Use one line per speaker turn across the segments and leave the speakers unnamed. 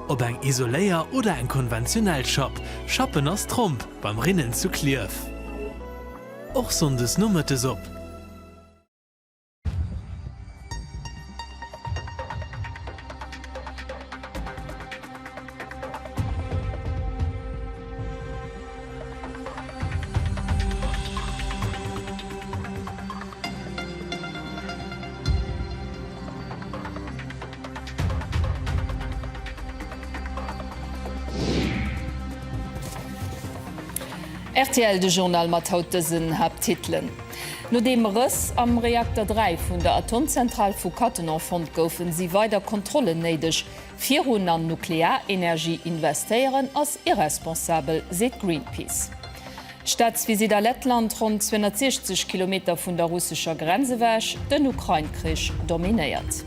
Ob eng Isoléier oder eng konventionell Schapp, Schappen ass Tromp beim Rinnen zu Klierf och sonndes nomëttes op.
Rtl, de Journal mat haut dësen Haapttitelen, Nodeem Rëss am Reakter 3 vun der Atomzentral vu Cattenom fonnt goufen, si weider Kontrollen néideg, Virun an Nuklearenergie investéieren ass irresponsabel, seet Greenpeace. Staatsvisitt a Lettland, ronn 260 Kilometer vun der russescher Grenz ewech, den Ukrain-Krich dominéiert.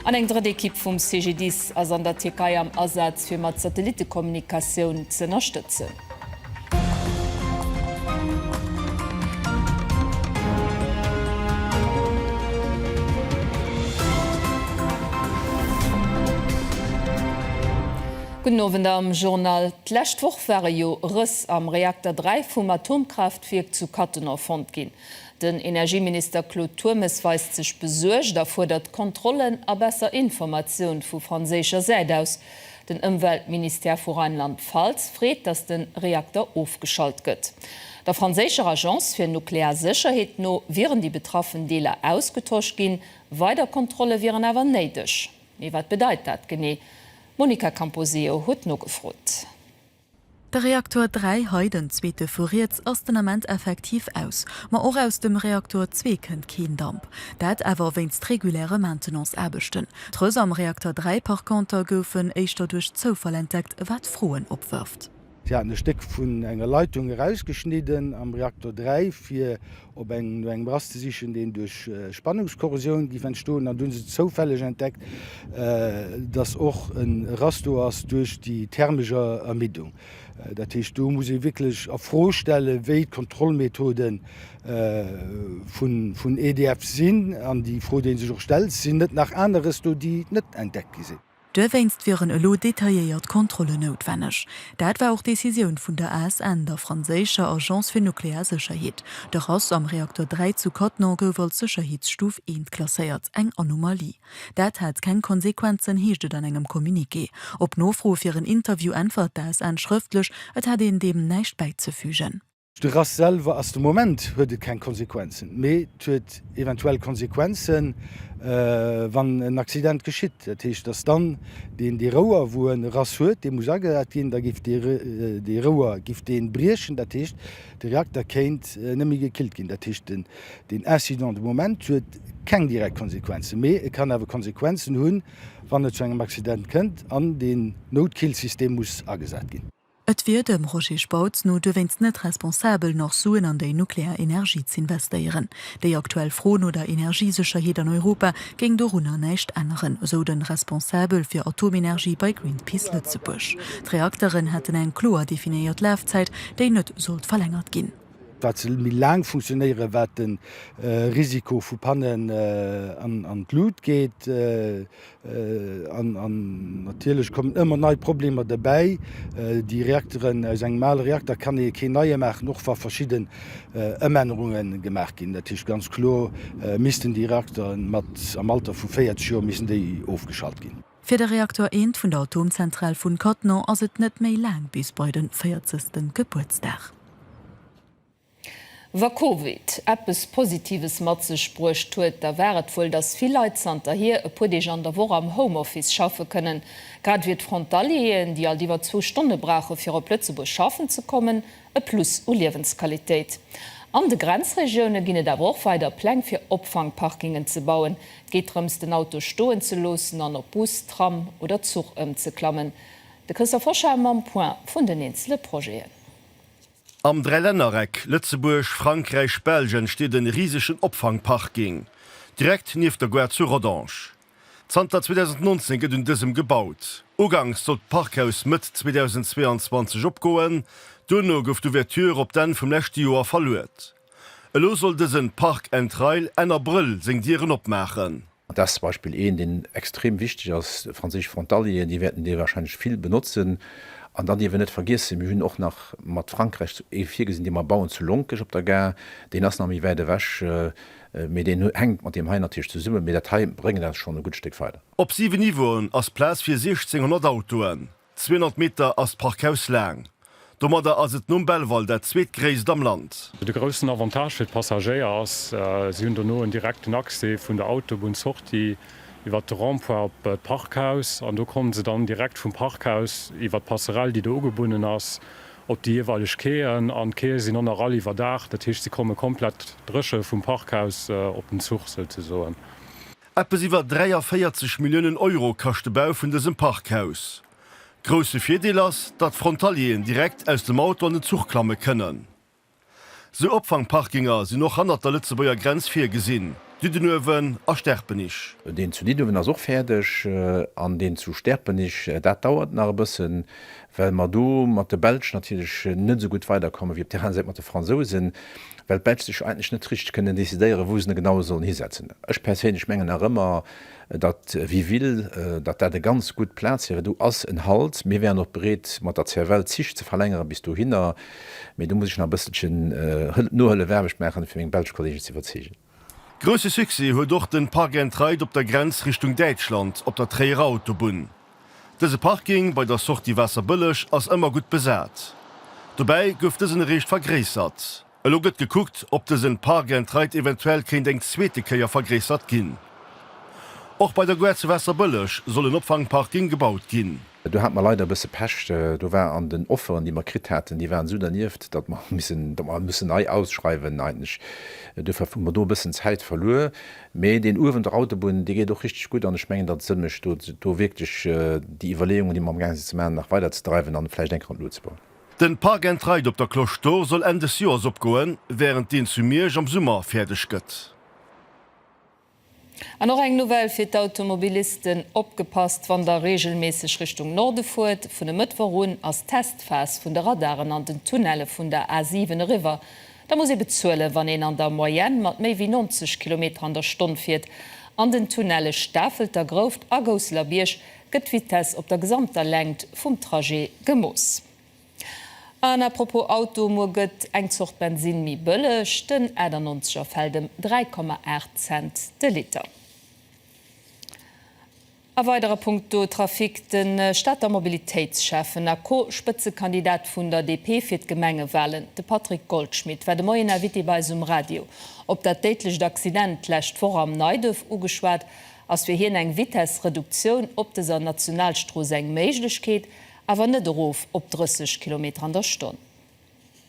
An eng drëtt Ekipp vum CGDIS ass an der Tierkei am Asaz, fir mat Satellittekommunikatioun z'ënnerstëtzen. Gudden Owend am Journal. D'lescht Woch ware jo Rëss am Reakter 3 vum Atomkraaftwierk zu Cattenom fonnt ginn. Den Energieminister Claude Turmes weist sech besuergt a fuerdert Kontrollen a besser Informatioun vu franséischer Säit aus. Den Ëmweltministère vu Rheinland-Pfalz freet, datt de Reakter ofgeschalt gëtt. Der franséischer Agence fir nuklear Sécherheet no wieren déi betraffen Deeler ausgetosch ginn, weider Kontrolle wieren awer néideg. Mee wat bedeit dat genee? D'Monica Camposeo huet nogefrot. De
Reaktor 3, hei den zweete vu riets, ass den Ament effektiv aus. Ma och aus dem Reaktor 2 kënnt keen Damp. Dat awer wéinst reguläre Maintenance-Aarbechten. D'Röss am Reaktor 3 par conter goufen éischter duerch Zoufall entdeckt, wat Froen opwërft. Si haten e Stéck
vun enger Leitung erausgeschnidden am Reaktor 3, fir op engem no engem Rast ze sichen, deen duerch Spannungskorrosioun géif entstoen. An du hunn se zoufälleg entdeckt, datt och e Rast do ass duerch déi thermesch Ermiddung. Dat heescht, do muss ee wierklech a Fro stellen, wéi d'Kontrollmethode vun EDF sinn. An déi Fro, déi ee sech och stellt, Sinn net nach aneres do, déi net entdeckt gi sinn? Duerwéinst wieren
elo detailléiert Kontrollen noutwenneg. Dat war och d'Decisioun vun der ASN, der franséischer Agence fir nuklear Sécherheet. De Rass am Reakter 3 zu Cattenom gouf als Sécherheetsstuf 1 klasséiert, eng Anomalie. Dat hat keng Konsequenzen, heescht et an engem Communiqué. Op Nofro fir en Interview äntwert d'ASN schrëftlech, et hätt een deem näischt bäizefügen. De Rass selwer
ass, de Moment huet et keng Konsequenzen, mee et huet eventuell Konsequenzen, wann en Accident geschitt. Dat heescht, dass dann deen, dee Rouer, wou en e Rass huet, dee muss agesat ginn, da géif dee Rouer briechen. Dat heescht, de Reakter kéint net méi gekillt ginn. Dat heescht, deen Incident de Moment huet keng direkt Konsequenzen, mee e kann awer Konsequenzen hunn, wann et zu engem Accident kënnt an deen Noutkillsystem muss agesat ginn. Et wier dem
Roger Spautz no duerwéinst net responsabel, nach Suen an déi nuklear Energie z'investéieren. Déi aktuell Fro no der Energiesécherheet an Europa géing dorunner näischt änneren, esou de Responsabel fir Atomenergie bei Greenpeace Lëtzebuerg. D'Reakteren hätten eng kloer definéiert Lafzäit, déi net sollt verlängert ginn. Wat se méi
laang funktionéieren, wat de Risiko vu Pannen an d'Lut geet. An natierlech kommen ëmmer nei Problemer derbäi. Déi Reakteren, aus engem ale Reakter kann ee keen neie maachen, och wa verschidden Ëmännerunge gemaach ginn. Dat heescht ganz kloer missten déi Reakteren mat am Alter vu 40 Joer missten déi ofgeschalt ginn. Fir de Reaktor 1
vun der Atomzentral vun Cattenom ass et net méi laang bis bei de véierzegsten Gebuertsdag.
Wa Covid eppes Positives mat sech bruecht huet, da war et wuel, dass vill Leit zanterhier e puer Deeg an der Woch am Homeoffice schaffe kënnen. Grad wier d'Frontalieren, déi alt iwwer zwou Stonne brauche fir op Lëtzebuerg schaffen ze kommen, e Plus u Liewensqualitéit. An de Grenzregioune ginn et awer och weider Pläng fir Opfangparkingen ze bauen. Et geet drëms, den Auto stoen ze loossen an op Bus, Tram oder Zuch ëmzeklammen. De Christophe Hoschel mam Point vun den eenzele Projeten. Am
Dräilännereck Lëtzebuerg, Frankräich, Belsch entsteet en risegen Opfangparking direkt nieft der Gare zu Rodange. Zanter 2019 gëtt un dësem gebaut. Uganks sollt d'Parkhaus Mëtt 2022 opgoen, duerno gouf d'Ouverture op d'Enn vum leschte Joer verluet. Elo soll dësen Park and Rail Enn Abrëll seng Dieren opmaachen. Dat
zum Beispill een, deen extrem wichteg ass, franséisch Frontalieren, déi wäerten dee warscheinlech vill benotzen. An dann dierf een net vergiessen, mir hunn och nach mat Frankräich ee virgesinn, dee mer bauen zu Lonkech op der Gare. Deen ass nach méi wäit ewech, mee deen hänkt mat deem hei natierlech zesummen. Mee dat hei bréngt eis schonn e gutt Stéck weider. Op siwe Niveauen
ass Plaz fir 1.600 Autoen. 200 Meter ass d'Parkhaus laang. Domadder ass et nom Belval dat zweetgréisst am Land. De groussen Avantage
fir d'Passagéier ass, si hunn dono en direkten Accès vun der Autobunn-Sortie iwwer de Rond-point op d'Parkhaus an do komme se dann direkt vum Parkhaus iwwer d'Passerell, déi do ugebunnen ass, op déi jeeweileg Quaien. An d'Quaie sinn och nach all iwwerdacht, dat heescht, se komme komplett dréche vum Parkhaus op den Zuch souzesoen. Eppes iwwer
43 Milliounen Euro kascht de Bau vun dësem Parkhaus. Grousse Virdeel ass, datt Frontalieren direkt aus dem Auto an den Zuch klamme kënnen. Sou Opfangparkinger sinn och hannert der Lëtzebuerger Grenz virgesinn, Diddenuewen a Sterpenich. Deen zu Diddenuewen ass
och fäerdeg an deen zu Sterpenich, dat dauert nach e bëssen, well mer do mat de Belsch natierlech net esou gutt weiderkommen, wéi op der aner Säit mat de Fransousen. well d'Belsch sech eigentlech net richteg kënnen decidéieren, wou se en genau sollen hisetzen. Ech perséinlech mengen nach ëmmer, datt Wiville, datt dat e ganz gutt Plaz wier. Et do ass en Halt, mir wäeren och bereet mat der CFL d'Zich ze verlängeren bis dohinner, mee do muss ech nach e bësselchen Nohëllefaarbecht maachen, fir meng belsch Kolleegen ze iwwerzeegen. Grousse Succès
huet och den Park and Ride op der Grenz Richtung Däitschland op der Tréierer Autobunn. Dëse Parking bei der Sortie Waasserbëlleg ass ëmmer gutt besat. Dobäi gouf dësen eréischt vergréissert. Elo gëtt gekuckt, ob dësen Park and Ride eventuell kéint eng zweete Kéier vergréissert ginn. Och bei der Gare zu Waasserbëlleg soll en Opfangparking gebaut ginn. Do hate mer leider e bësse
Pech. Do war an den Offeren, déi mer kritt haten, déi waren esou dernieft, datt mer missen, datt mer hu missen nei ausschreiwen eigentlech. Dofir hu mer do e bëssen Zäit verluer. Mee deen uewen, der Autobunn, dee geet och richteg gutt an ech mengen, datt et Sënn mécht, do wierklech déi Iwwerleeungen, déi mer am gaange sinn ze maachen, nach weiderzedreiwen an vläicht eng Kéier an d'Luucht ze bauen. Den Park and
Ride op der Cloche d'Or soll Enn des Joers opgoen, wärend deen zu Miersch am Summer fäerdeg gëtt.
An och eng Nouvelle fir d'Automobilisten, Opgepasst wann der reegelméisseg Richtung Norde fuert! Vun e Mëttwoch un ass d'Testphas vun de Radaren an den Tunnelle vun der A7 eriwwer. Da muss ee bezuelen, wann een an der Moyenne mat méi wéi 90 Kilometer an der Stonn fiert. An den Tunnelle Stafelter Grouft a Gousseler Bierg gëtt d'Vitesse op der gesamter Längt vum Trajet gemooss. An à propos Auto, Muer gëtt eng Zort Bensinn méi bëlleg, den 98 er fält ëm 3,8 Cent de Liter. A weidere Punkto Trafic, De Stater Mobilitéitsschäffen a Co-Spëtzekandidat vun der DP fir d'Gemengewalen, de Patrick Goldschmidt, war de Moien Invité bei eis um Radio. Op dat déidlecht Accident d'lescht Woch am Neiduerf ugeschwat, ass fir hien eng Vitessreduktioun op dëser Nationalstrooss eng Méiglechkeet, awer net erof op 30 Kilometer an der Stonn.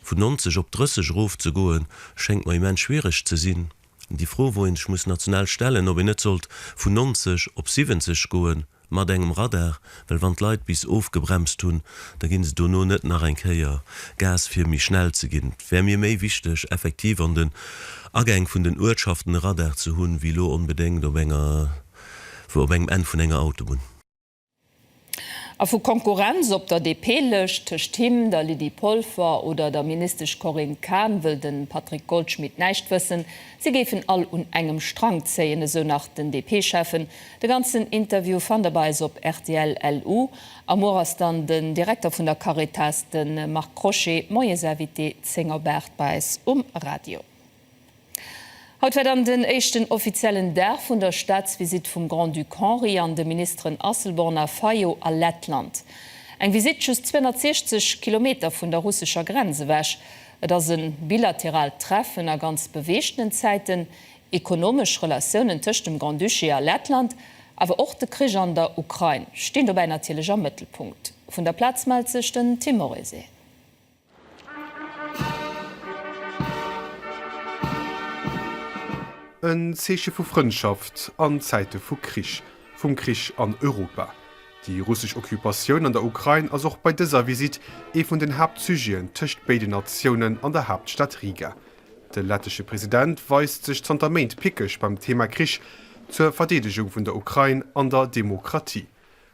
Vun 90
op 30 erofzegoen, schéngt mer immens schwiereg ze sinn. Déi Fro, wou een sech muss national stellen, ob een net sollt vun 90 op 70 goe mat engem Radar, well wann d'Leit bis ofgebremst hunn, da gi se dono net nach eng Kéier Gas fir méi schnell ze ginn. Et wär mir méi wichteg effektiv an den Agäng vun den Uertschaften e Radar ze hunn, wéi lo onbedéngt op enger, op engem Enn vun enger Autobunn.
A vu Konkurrenz op der DP-Lëscht tëscht him, der Lydie Polfer oder der Ministesch Corinne Cahen wëll de Patrick Goldschmidt näischt wëssen. Si géifen all un engem Strang zéien, esou nach den DP-Schäffen. De ganzen Interview fannt der bei eis op rtl LU. A muer ass dann den Direkter vun der Caritas, de Marc Crochet, Moies Invité 10 op 8 bei eis um Radio. Haut war dann den éischten offiziellen Dag vun der Staatsvisitt vum Grand-Duc Henri an de Ministeren Asselborn a Fayot a Lettland. Eng Visitt just 260 Kilometer vun der russescher Grenz ewech. Et ass e bilateraalt Treffen a ganz beweegtenen Zäiten, Ekonomesch Relatiounen tëscht dem Grand-Duché a Lettland, awer och de Krich an der Ukrain stinn dobäi natierlech am Mëttelpunkt. Vun der Plaz mellt sech den Tim Morrison.
En Zeeche vu Frëndschaft an Zäite vu Krich, vum Krich an Europa. Déi russesch Occupatioun an der Ukrain ass och bei dëser Visitt ee vun den Haaptsujeten tëscht béiden Natiounen an der Haaptstad Riga. De lettesche President weist sech zanter Méint pickeg beim Thema Krich, zur Verdeedegung vun der Ukrain an der Demokratie.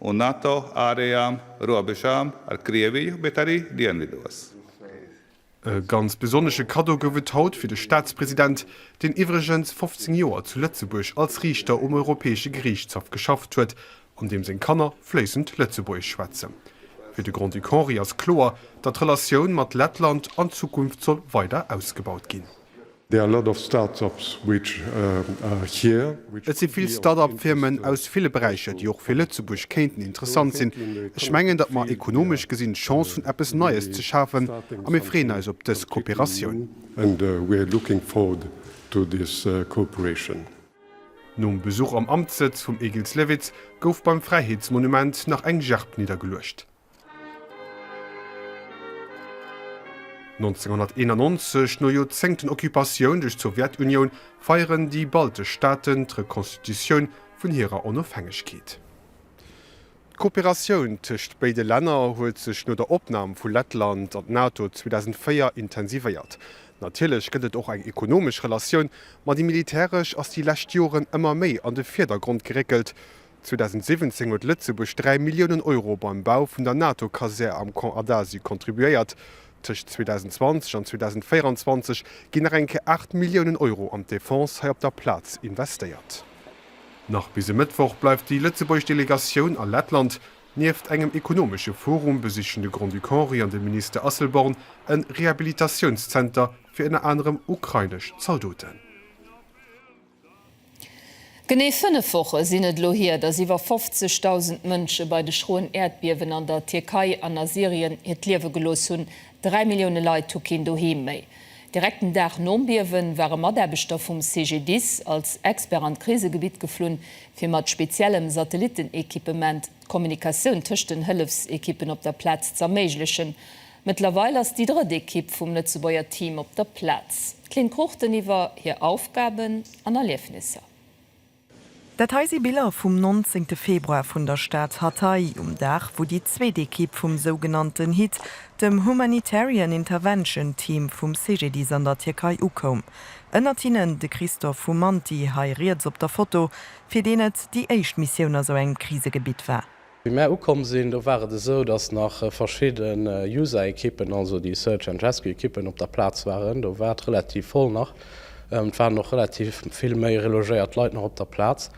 Un NATO aarejaam roabejaam ar krievi jo betari dianvidoas. E ganz besonnesche Kaddo gouf et haut fir de Staatspresident, deen iwwregens 15 Joer zu Lëtzebuerg als Riichter um Europäesche Geriichtshaff geschafft huet an deem seng Kanner fléissend Lëtzebuergesch schwätzen. Fir de Grand-Duc Henri ass kloer, datt d'Relatioun mat Lettland an Zukunft soll weider ausgebaut ginn. Et si vill Start-up-Firmen aus ville Beräicher, déi och fir Lëtzebuerg kéinten interessant sinn. Ech mengen, datt mer ekonomesch gesinn d'Chance hunn, eppes Neies ze schafen, a mir freeën eis op dës Kooperatioun. Nom Besuch am Amtssëtz vum Egils Lewitz gouf beim Fräiheetsmonument nach eng Gerb niddergeluecht. 1991, no Joerzéngten Occupatioun duerch d'Sowjetunioun, feieren déi baltesch Staaten d'Rekonstitutioun vun hirer Onofhängegkeet. D'Kooperatioun tëscht béide Länner huet sech no der Opnam vu Lettland an d'NATO 2004 intensivéiert. Natierlech gëtt et och eng ekonomesch Relatioun, ma déi militäresch ass déi lescht Joren ëmmer méi an de Virdergrond geréckelt, 2017 huet Lëtzebuerg 3 Milliounen Euro beim Bau vun der NATO-Kasär am Camp Adasio contribuéiert. Tëscht 2020 an 2024 ginn nach eng Kéier 8 Milliounen Euro an d'Defense hei op der Plaz investéiert. Nach bis e Mëttwoch bleift déi lëtzebuergesch Delegatioun a Lettland. Nieft engem ekonomesche Forum besichen de Grand-Duc Henri an de Minister Asselborn e Rehabilitatiounszenter fir ënner anerem ukrainesch Zaldoten.
Genee fënnef Woche sinn et elo hier, datt iwwer 50.000 Mënsche bei de schroen Äerdbiewen an der Tierkei an a Syrien hiert Liewe gelooss hunn. Dräi Millioune Leit hu keen Doheem méi. Direkt den Dag nom Biewe ware Mataarbechter vum CGDIS als Expert an d'Krisegebitt geflunn, fir mat speziellem Satellittenequipement d'Kommunikatioun tëscht den Hëllefsequippen op der Plaz z'erméiglechen. Mëttlerweil ass déi drëtt Ekipp vum Lëtzebuerger Team op der Plaz. D'Lynn Cruchten iwwer hir Aufgaben an Erliefnisser.
Dat hei si Biller vum 19 Februar vun der Stad Hatay, um Dag wou déi zweet Ekipp vum sougenannten hit, dem Humanitarian Intervention Team vum CGDIS an der Tierkei ukoum. Ënnert hinnen de Christophe Humanti, hei riets op der Foto, fir deen et déi éischt Missioun a sou engem Krisegebitt war. Wéi mär ukomm sinn,
do war et esou, dass nach verschidden User-Ekippen, also déi Search and Rescue Ekippen op der Plaz waren. Do war et relativ voll nach. Et waren och relativ vill méi relogéiert Leit nach op der Plaz.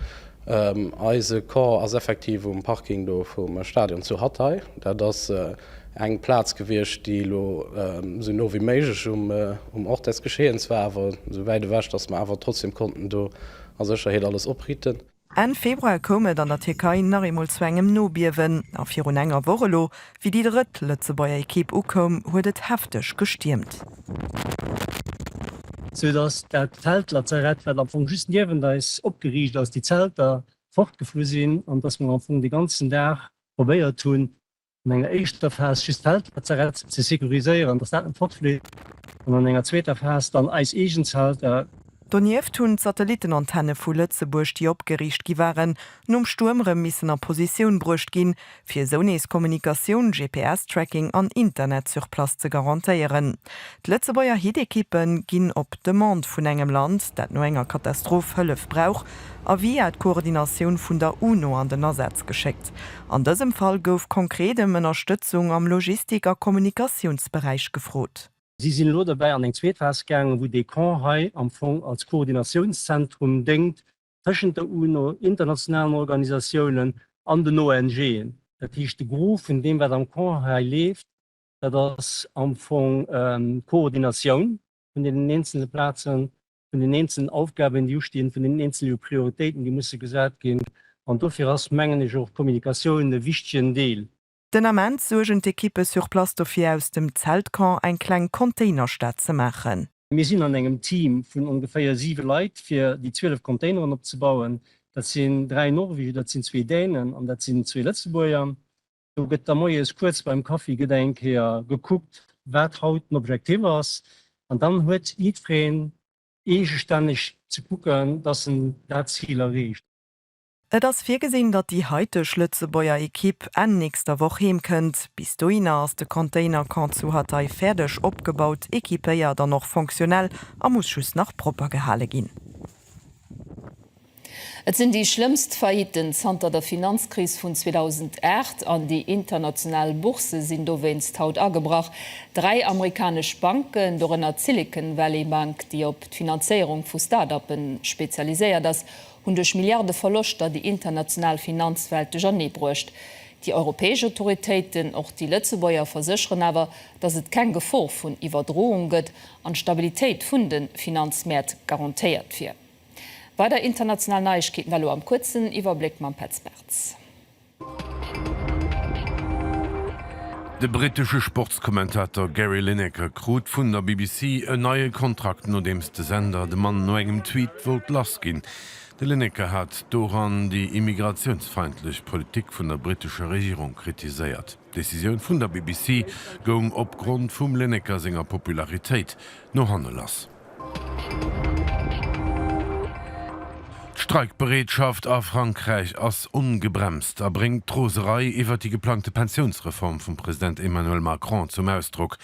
Eise Corps ass effektiv um Parking do vum Stadion zu Hatay. Dat ass eng Plaz gewiescht, déi elo esou no wéi méiglech um Ort des Geschehens war, awer esou wäit ewech, dass mer awer trotzdem konnten do a Sécherheet alles opritten. Enn Februar
koum et an der Tierkei nach eemol zu engem Nobiewen, a virun enger Woch elo, wéi déi drëtt Lëtzebuerger Ekipp ukoum, huet et hefteg gestiermt.
Sou dass dat Feldlazarett, wat am Fong just niewent eis opgeriicht ass, déi Zelter fortgeflu sinn an dass mer am Fong de ganzen Dag probéiert hunn, an enger éischter Phas just d'Feldlazarett ze securiséieren, datt dat net fortfleet, an an enger zweeter Phas dann eis eegen Zelter. Donieft hunn
d'Satellittenantenne vu Lëtzebuerg, déi opgeriicht gi waren, nom Stuerm erëm missen a Positioun bruecht ginn, fir esou nees Kommunikatioun, GPS-Tracking an Internet sur place ze garantéieren. D'Lëtzebuerger Hit-Ekippe ginn op Demande vun engem Land, dat no enger Katastroph Hëllef brauch, a via d'Koordinatioun vun der UNO an den Asaz geschéckt. An dësem Fall gouf konkret ëm Ënnerstëtzung am Logistik a Kommunikatiounsberäich gefrot. Si sinn elo derbäi
an eng zweet Phas gaangen, wou dee Camp hei am Fong als Koordinatiounszentrum déngt tëschent der UNO, internationalen Organisatiounen an den ONGen. Dat heescht, de Gros vun deem, wat am Camp hei leeft, dat ass am Fong d'Koordinatioun vun deenen eenzele Plazen vun den eenzelen Aufgaben, déi ustinn, vun den eenzele Prioritéiten, déi musse gesat ginn. An dofir ass, mengen ech, och d'Kommunikatioun e wichtegen Deel. Den Ament
suergen d'Ekippe sur place dofir, aus dem Zeltcamp eng kleng Containerstad ze maachen. Mir sinn an engem
Team vun ongeféier siwe Leit, fir déi 12 Containeren opzebauen. Dat sinn dräi Norweger, dat sinn zwee Dänen an dat sinn zwee Lëtzebuerger. Do gëtt da moies kuerz beim Kaffi gëtt eng Kéier gekuckt, wat haut den Objektiv ass. An dann huet jiddwereen eegestänneg ze kucken, dass en dat Zil erreecht. Et ass
virgesinn, datt déi haiteg Lëtzebuerger Ekipp Enn nächster Woch heem kënnt. Bis dohinner ass de Container-Camp zu Hatay fäerdeg opgebaut, equipéiert an och fonctionnel a muss just nach propper gehale ginn.
Et sinn déi schlëmmst Failliten zanter der Finanzkris vun 2008 an déi international Boursë sinn dowéinst haut agebrach. Dräi amerikanesch Banken, dorënner d'Silicon Valley Bank, déi op d'Finanzéierung vu Start-Uppe spezialiséiert ass, hunn duerch Milliarde Verloschter déi international Finanzwelt duerchernee bruecht. Déi europäesch Autoritéiten, och déi lëtzebuerger, versécheren awer, datt et keng Gefor vun Iwwerdroung gëtt an d'Stabilitéit vun de Finanzmäert garantéiert wier. Weider international Neiegkeeten elo am kuerzen Iwwerbléck mam Petz Bartz.
De brittesche Sportskommentator Gary Lineker krut vun der BBC en neie Kontrakt, nodeems de Sender de Mann no engem Tweet wollt lass ginn. De Lineker hat doran déi immigratiounsfeindlech Politik vun der brittescher Regierung kritiséiert. D'Decisioun vun der BBC goung opgrond vum Lineker senger Popularitéit no hanne lass. D'Streikbereetschaft a Frankräich ass ongebremst a bréngt d'Roserei iwwert déi geplangte Pensiounsreform vum President Emmanuel Macron zum Ausdrock.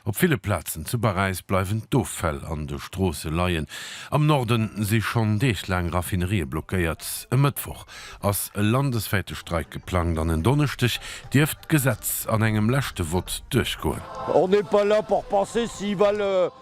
Op ville Plazen zu Paräis bleiwen d'Offäll an de Stroosse leien. Am Norde si schonn deeglaang Raffinerië blockéiert. E Mëttwoch ass e landeswäite Streik geplangt an en Donneschdeg dierft d'Gesetz an engem leschte Vott duerchgoen.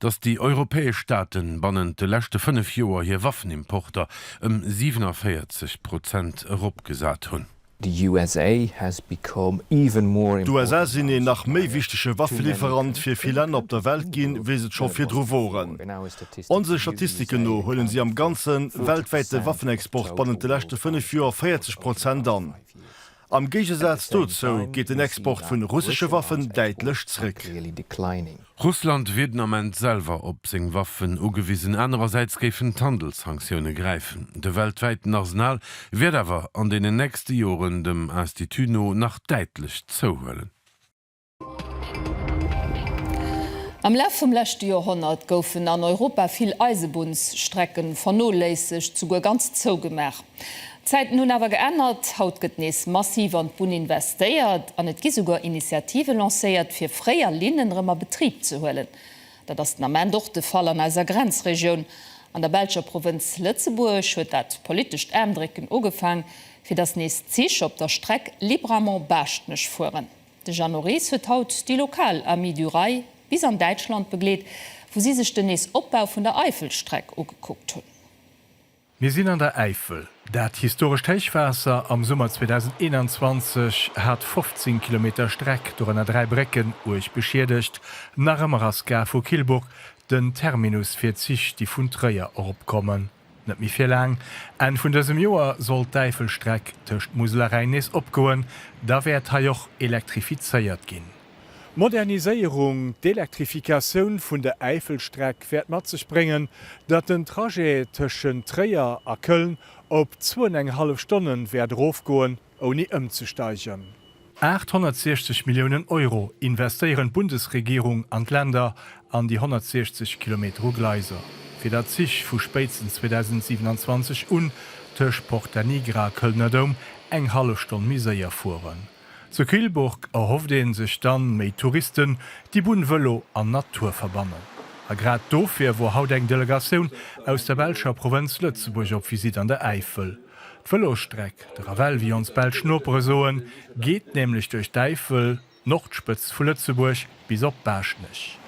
datt déi europäesch Staate bannent de leschte fënnef Joer hir Waffenimporter ëm 47 Prozent eropgesat hunn.
D'USA sinn een nach
méi wichtege Waffeliwwerant fir vill Länner op der Welt ginn, wéi se et scho virdru woren. Onse Statistiken no huelen si am ganze weltwäite Waffenexport bannent de leschte fënnef Joer 40 Prozent an. Am Géigesaz dozou geet den Export vun russesche Waffen däitlech zréck.
Russland wier den Ament selwer op seng Waffen ugewisen, anerersäits géifen d'Handelssanktioune gräifen. De weltwäiten Arsenal wäert awer an deenen nächste Joren dem Institut no nach däitlech zouhuelen.
Am Laf vum leschte Joerhonnert goufen an Europa vill Eisebunnsstrecken vernoléissegt, souguer ganz zougemaach. D'Zäiten hunn awer geännert, haut gëtt nees massiv an d'Bunn investéiert an et gi souguer Initiative lancéiert, fir fréier Linnen erëm a Betrib ze huelen. Dat ass den Ament och de Fall an eiser Grenzregioun. An der belscher Provënz Lëtzebuerg huet dat politescht Ändrécken ugefaang, fir datt nees Zich op der Streck Libramont-Baaschtnech fueren. De Jeannot Ries huet haut déi lokal Amis du Rail bis an Däitschland begleet, wou si sech den Nees-Opbau vun der Eifelstreck ugekuckt hunn. Mir sinn
an der Äifel. Dat historescht Héichwaasser am Summer 2021 hat 15 Kilometer Streck, dorënner dräi Brécken, uerg beschiedegt. Nach ëmmer ass d'Gare vu Kyllburg den Terminus fir d'Zich, déi vun Tréier eropkommen. Net méi fir laang, Enn vun dësem Joer soll d'Äifelstreck tëscht Musel a Rhäin nees opgoen. Da wäert hei och elektrifizéiert ginn. D'Moderniséierung, d'Elektrifikatioun vun der Äifelstreck wäert mat sech bréngen, datt den Trajet tëschent Tréier a Köln op zwou an eng hallef Stonne wäert erofgoen. ouni ëmzesteigern. 860 Milliounen Euro investéieren d'Bundesregierung an d'Länder an déi 160 Kilometer u Gleiser, fir datt d'Zich vu spéitstens 2027 un tëscht Porta Nigra a Kölner Dom eng hallef Stonn méi séier fueren. Zu Kyllburg erhofft een sech dann méi Touristen, déi Bunn, Vëlo an Natur verbannen. A grad dofir wor haut eng Delegatioun aus der belscher Provënz Lëtzebuerg op Visite an der Äifel. D'Vëlosstreck, de Ravel wéi ons belsch Nopere soen, geet nämlech duerch d'Äifel, d'Nordspëtzt vu Lëtzebuerg, bis op Baaschtnech.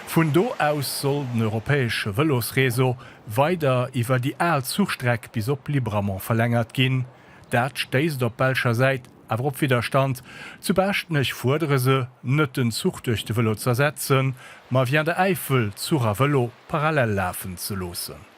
Vun do aus soll den europäesche Vëlosreseau weider iwwer déi al Zuchstreck bis op Libramont verlängert ginn. Dat stéisst op belscher Säit awer op Widderstand. Zu Baaschtnech fuerdere se, net den Zuch duerch de Vëlo z'ersetzen, ma via der Äifel Zuch a Vëlo parallel lafen ze loossen.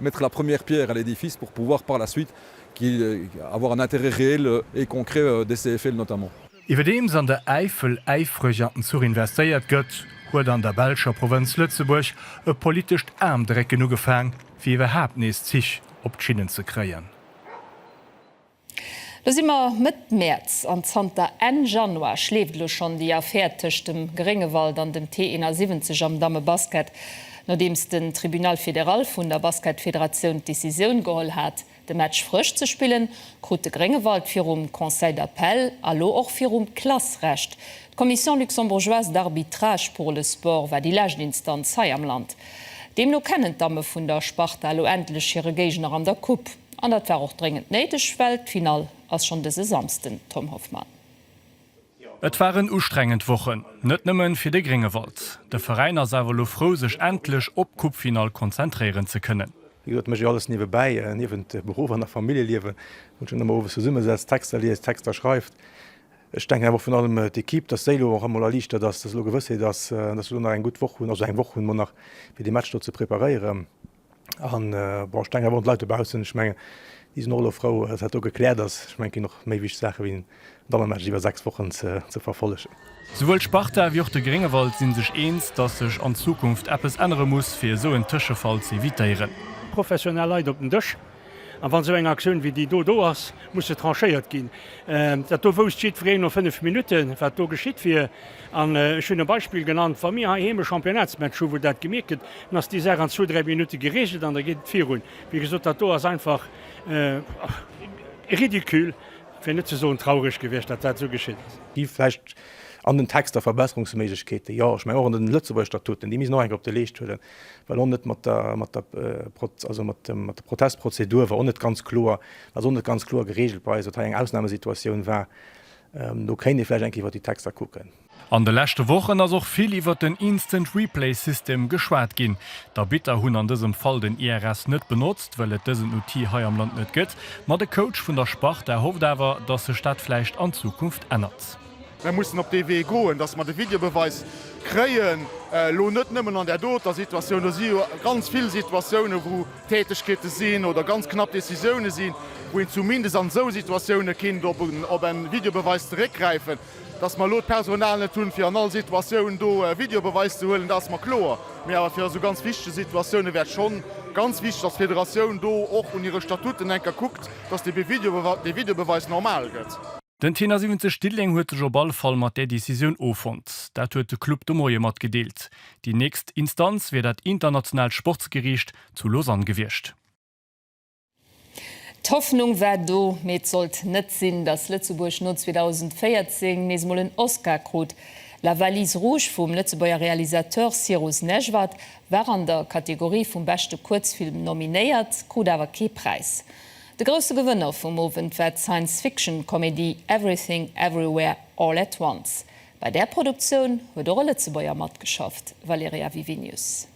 Mettre la première pierre à l'édifice pour pouvoir par la suite qu'il avoir un intérêt réel et concret de ces effets notamment. Iwwerdeems an der
Äifel äifreg an den Zuch investéiert gëtt, huet an der belscher Provënz Lëtzebuerg e politescht Aarmdrécken ugefaang, fir iwwerhaapt nees Zich op d'Schinnen ze kréien.
Lo si mer Mëtt Mäerz an zanter Enn Januar schleeft elo schonn déi Affär tëscht dem Gréngewald an dem T71 am Dammebasket. Nodeems den Tribunal fédéral vun der Basketfederatioun d'Decisioun geholl hat, de Match frësch ze spillen, krut de Gréngewald virum Conseil d'appel a lo och virum CLAS Recht. D'Commission luxembourgeoise d'arbitrage pour le sport war déi lescht Instanz hei am Land. Deemno kennen d'Damme vun der Sparta elo endlech hire Géigner an der Coupe. An dat war och dréngend néideg, well d'Finall ass schonn dëse Samsden, Tom Hoffmann.
Et waren ustrengend Wochen, net nëmmen fir de Gréngewald. De Veräin ass awer elo frou sech endlech op d'Coupefinall konzentréieren ze kënnen. Wéi gesot, méch ech alles
niewebäi, niewent Beruff an nach Familljeliewen, wou ech dann ëmmer owes zesumme setzt, Texter liest, Texter schreift. Ech denken awer och virun allem d'Equipe, dass déi elo och emol erliichtert ass, dass elo Gewëssheet ass, dass se elo nach eng gutt Woch hunn, also eng Woch hunn mer nach, fir dee Match do ze preparéieren. An, bon, ech denken awer un d'Leit dobaussen, ech mengen, déi sinn och elo frou, datt dat do gekläert ass. Ech mengen, et ginn och méi wichteg Saache wéi en Dammematch iwwer sechs Wochen ze verfollegen. Souwuel d'Sparta
wéi och de Gréngewald sinn sech eens, datt sech an Zukunft eppes ännere muss, fir esou en Tëschefall z'evitéieren. Professionell Leit
op den Dësch, A wann esou eng Aktioun wéi déi do do ass, muss se tranchéiert ginn. Dat do wousst jiddwereen no fënnef Minutten, wat do geschitt wier. An ech hunn e Beispill genannt, Wa mir heiheem e Championnatsmatch hu wou dat gemierkt gëtt, dann ass déi Saach an zwou, dräi Minutte gereegelt an da geet et virun. Wéi gesot, dat do ass einfach ridicule, fir net ze soen traureg gewiescht, datt dat esou geschitt ass. Déi vläicht
an den Texter Verbesserungsméiglechkeeten, jo, ech mengen och an de Lëtzebuerger Statuten, déi misst een och eng Kéier op de Leescht huelen. well och net mat der mat der Proz also mat dem mat der Protestprozedur war och net ganz kloer ass och net ganz kloer geregelt bei eis, datt hei eng Ausnahmesituatioun war. Do kéint ee vläicht eng Kéier iwwert déi Texter kucken. An de leschte
Wochen ass och vill iwwert den Instant Replay System geschwat ginn. D'Arbitter hunn an dësem Fall den IRS net benotzt, well et dësen Outil hei am Land net gëtt. Ma de Coach vun der Sparta hofft awer, datt sech dat vläicht an Zukunft ännert. Mir mussen op dee
Wee goen, dass mer de Videobeweis kréien, elo net nëmmen an där doter Situatioun, do si jo ganz vill Situatiounen, wou Tätegkeete sinn oder ganz knapp Décisioune sinn, wou een zumindest an esou Situatioune kinnt op e Videobeweis zeréckgräifen. Dass mer elo d'Personal net hunn, fir an all Situatioun do e Videobeweis ze huelen, dat ass mer kloer. Mee awer fir esou ganz wichteg Situatioune wär et schonn ganz wichteg, dass d'Federatioun do och un hire Statuten enker kuckt, dass dee Videobeweis normal gëtt. Den Tenner 70
Diddeleng huet sech op alle Fall mat där Decisioun offonnt. Dat huet de Club de Moie matgedeelt. Déi nächst Instanz wier dat internationaalt Sportsgeriicht zu Lausanne gewiescht.
D'Hoffnung war do, mee et sollt net sinn, datt Lëtzebuerg no 2014 nees emol en Oscar krut. La Valise Rouge vum Lëtzebuerger Realisateur Cyrus Nejvad war an der Kategorie vum beschte Kuerzfilm nominéiert, krut awer kee Präis. De grousse Gewënner vum Owend war d'Science-Fiction-Komedie Everything Everywhere All at Once. Bei där Produktioun huet och e Lëtzebuerger matgeschafft, Valerija Vivinius.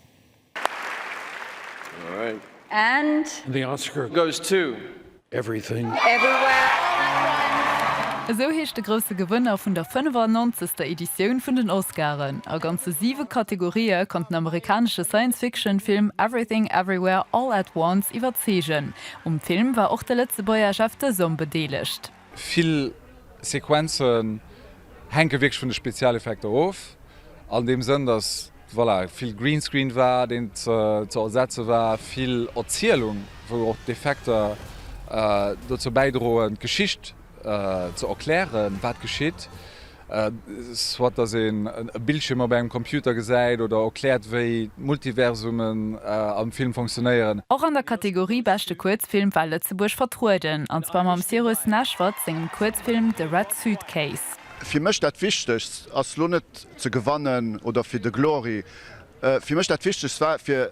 Esou heescht de grousse Gewënner vun der 95. Editioun vun den Oscaren. A ganze siwe Kategorië konnt den amerikanesche Science-Fiction-Film Everything Everywhere All at Once iwwerzeegen. Um Film war och de Lëtzebuerger Jeff de Somme bedeelegt. Vill
Sequenze hänke wierklech vun de Spezialeffekter of, an deem Sënn, datt, voilà, vill Greenscreen war, deen ze ersetze war, vill Erzielung, wou och d'Effekter dozou bäidroen, d'Geschicht ze erklären, wat geschitt. soit dass een e Bildschirm op engem Computer gesäit oder erkläert wéi d'Multiversumen am Film funktionéieren. Och an der Kategorie
Beschte Kuerzfilm war Lëtzebuerg vertrueden, an zwar mam Cyrus Neshvad sengem Kuerzfilm The Red Suitcase. Fir mech dat
wichtegst ass lo net ze gewannen oder fir de Glory, fir mech dat wichtegst war fir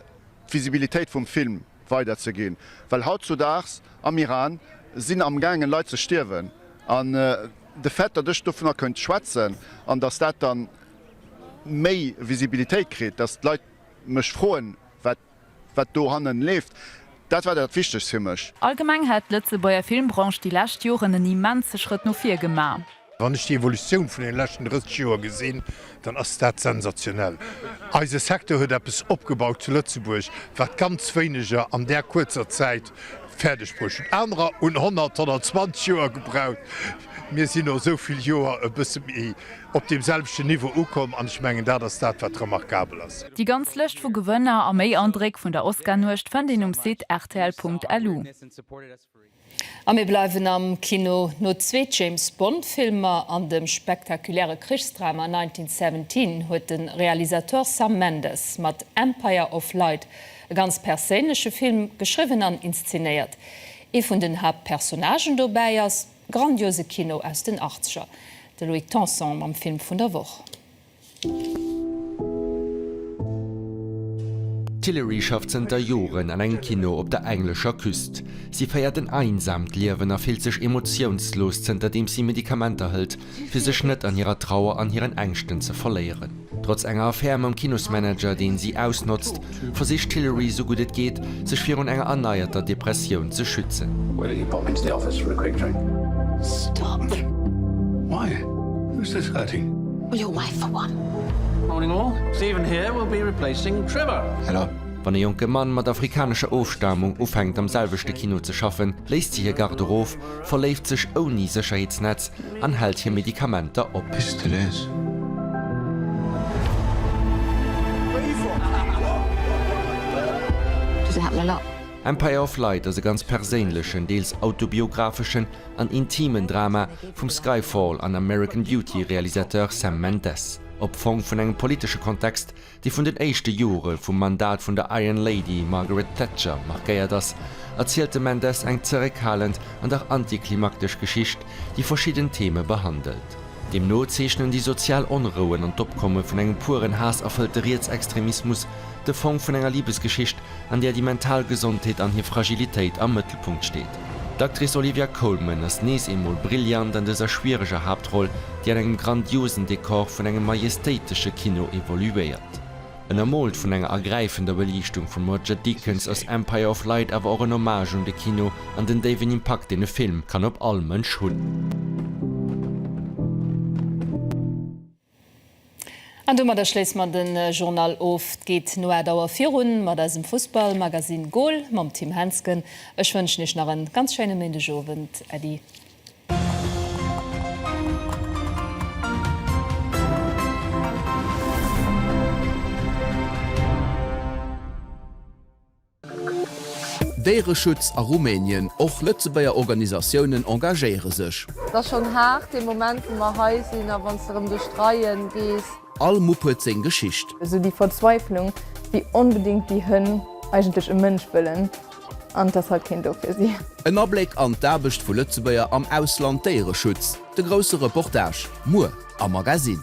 d'Visibilitéit vum Film. weider ze ginn, well hautzudaags am Iran sinn am gaangen Leit ze stierwen, an de Fait datt ech dovunner kënnt schwätzen, an datt dat dann méi Visibilitéit kritt, datt d'Leit mech froen wat wat do hannen leeft, dat war dat wichtegst fir mech. Allgemeng hätt d'Lëtzebuerger
Filmbranche déi lescht Joren en immense Schrëtt no vir gemaach. Wann ech déi Evolutioun
vun deene leschten 30 Joer gesinn, dann ass dat sensationell. Eise Secteur huet eppes opgebaut zu Lëtzebuerg, wat ganz wéineger an där kuerzer Zäit fäerdeg bruecht hunn. Anerer hunn 100, 120 Joer gebraucht. Mir sinn no esou vill Joer e bësse méi op deem selwechten Niveau ukomm an ech mengen, dat ass dat, wat remarkabel ass. Déi ganz Lëscht vu
Gewënner a méi Andréck vun der Oscar-Nuecht fënnt een um Site rtl.lu.
A mir bleiwen am Kino. No zwee James Bond Filmer an dem spektakuläre Krichsdrama 1917 huet de Realisateur Sam Mendes mat Empire of Light e ganz perséinleche Film geschriwwen an inszenéiert. Ee vun den Haaptpersonnagen dobäi ass grandiose Kino aus den Achtzeger. De Louis Tanson mam Film vun der Woch.
D'Hilary schafft zënter Joren an engem Kino op der englescher Küst. Si féiert en einsaamt Liewen a fillt sech emotiounslos, zënterdeems si Medikamenter hëlt, fir sech net an hirer Trauer an hiren Ängschten ze verléieren. Trotz enger Affär mam Kinosmanager, deen si ausnotzt, versicht d'Hillary sou gutt et geet, sech virun enger erneierter Depressioun ze schützen.
Wann e
jonke Mann mat afrikanescher Ofstamung ufänkt am selwechte Kino ze schaffen, léisst si hir Garde-robe, verléift sech ouni Sécherheetsnetz, an hält hir Medikamenter op. Bis de les.
Empire of Light
ass e ganz perséinlechen, deels autobiographeschen an intimen Drama vum Skyfall an American Beauty Realisateur Sam Mendes. Opfong vun engem politesche Kontext, déi vun den éischte Jore vum Mandat vun der Iron Lady Margaret Thatcher markéiert ass, erzielt de Mendes eng zeréckhalend an dach antiklimaktesch Geschicht, déi verschidden Theme behandelt. Deemno zeechnen déi sozial Onrouen an d'Opkomme vun engem pueren Haass-erfëllte Rietsextremismus de Fong vun enger Libesgeschicht an där déi mental Gesondheet an hir Fragilitéit am Mëttelpunkt steet. D'Actrice Olivia Colman ass nees eemol brillant an dëser schwiereger Haaptroll, déi an engem grandiosen Dekor vun engem majestéitesche Kino evoluéiert. Ënnermoolt vun enger ergräifender Beliichtung vum Roger Deakins ass Empire of Light awer och en Hommage un de Kino an den déiwen Impakt, deen e Film kann op all Mënsch hunn.
An domadder schléisse mer den Journal of. D'geet no 8 Auer virun mat eisem Fussball Magazine Goal mam Tim Hensgen. Ech wënschen iech nach en ganz schéinen Méindeg Owend. Äddi.
Déiereschutz a Rumänien, och Lëtzebuerger Organisatiounen engagéiere sech. Et ass schonn haart
dee Moment wou mer hei sinn a wann s de erëm duerch d'Reie gees. All Mupp huet seng
Geschicht. Esou déi Verzweiflung,
wéi onbedéngt déi Hënn eigentlech e Mënsch wëllen an et ass halt keen do fir si. En Abléck an
d'Aarbecht vu Lëtzebuerger am Ausland Déiereschutz, de grousse Reportage, muer am Magazine.